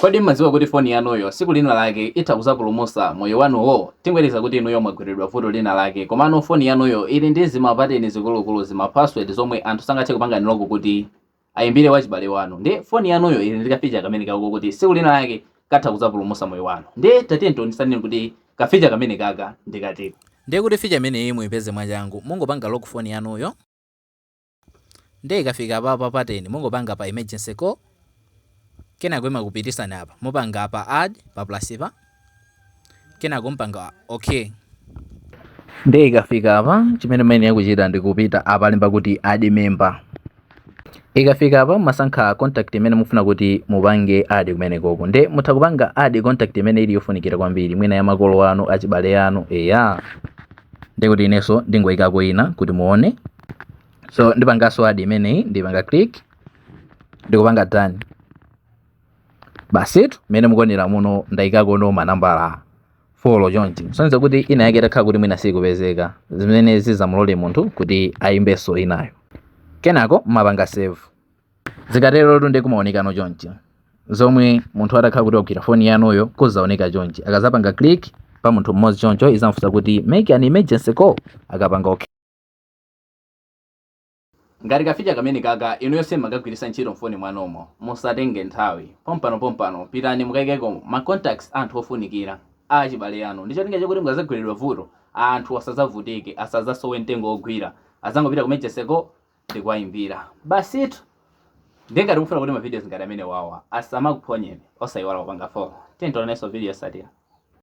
Kodi m'madziwa kuti foni yanuyo tsiku lina lake itha kuzapulumusa moyo wanuwo? Tingoyerekeza kuti inuyo mwagweredwa vuto lina lake komano foni yanuyo ili ndi zima pateni zikulukulu zima password zomwe anthu sangathe kupanga unlock kuti ayimbire wachibale wanu ndiye foni yanuyo ili ndi ka feature kameneka kokuti tsiku lina lake katha kuzapulumusa moyo wanu ndiye tatiyeni tiwonesaneni kuti ka feature kamenekaka ndi katiko. Ndiye kuti feature imeneyi muyipeze mwachangu mungopanga lock foni yanuyo. Ndiye ikafika apapa pattern mungopanga pa emergency call kenako imakupitisani apa mupanga apa add pa plus pa kenako mpanga okay. Ndiye ikafika apa chimene muyenera kuchita ndi kupita apa alemba kuti add member. Ikafika apa mumasankha contact imene mufuna kuti mupange add kumenekoko. Ndiye mutha kupanga add contact imene ili yofunikira kwambiri mwina ya makolo anu, achibale anu, eya. Ndiye kuti inenso ndingoyikako ina kuti muone. so ndipangaso add imeneyi ndipanga click ndikupanga done basitu mmene mukuonera muno ndayikako no manambala folo chonchi sonza kuti ina yake itakhala kuti mwina sikupezeka zimene zizamulole munthu kuti ayimbenso inayo kenako mumapanga save zikaterotu nde kumaonekano chonchi zomwe munthu atakhala kuti wagwira foni yanuyo kuzaoneka chonchi akazapanga click pa munthu mmodzi choncho izamfunsa kuti make an emergency call akapanga okay ngati kaficha kamenekaka inuyo simmakagwiritsa ntchito mfoni mwanumo musatenge nthawi pompanopompano pitani mukaikeko ma contacts a anthu ofunikira a achibale anu ndi cholinga chakuti mukazagweredwa vuto anthu asazavutike asazasowe mtengo wogwira azangopita ku emergency call ndikuwaimbira basitu ndiye ngati mukufuna kuti ma videos ngati amenewawa asamakuphonyeni osaiwala kupanga follow tiyeni tionanenso video yotsatira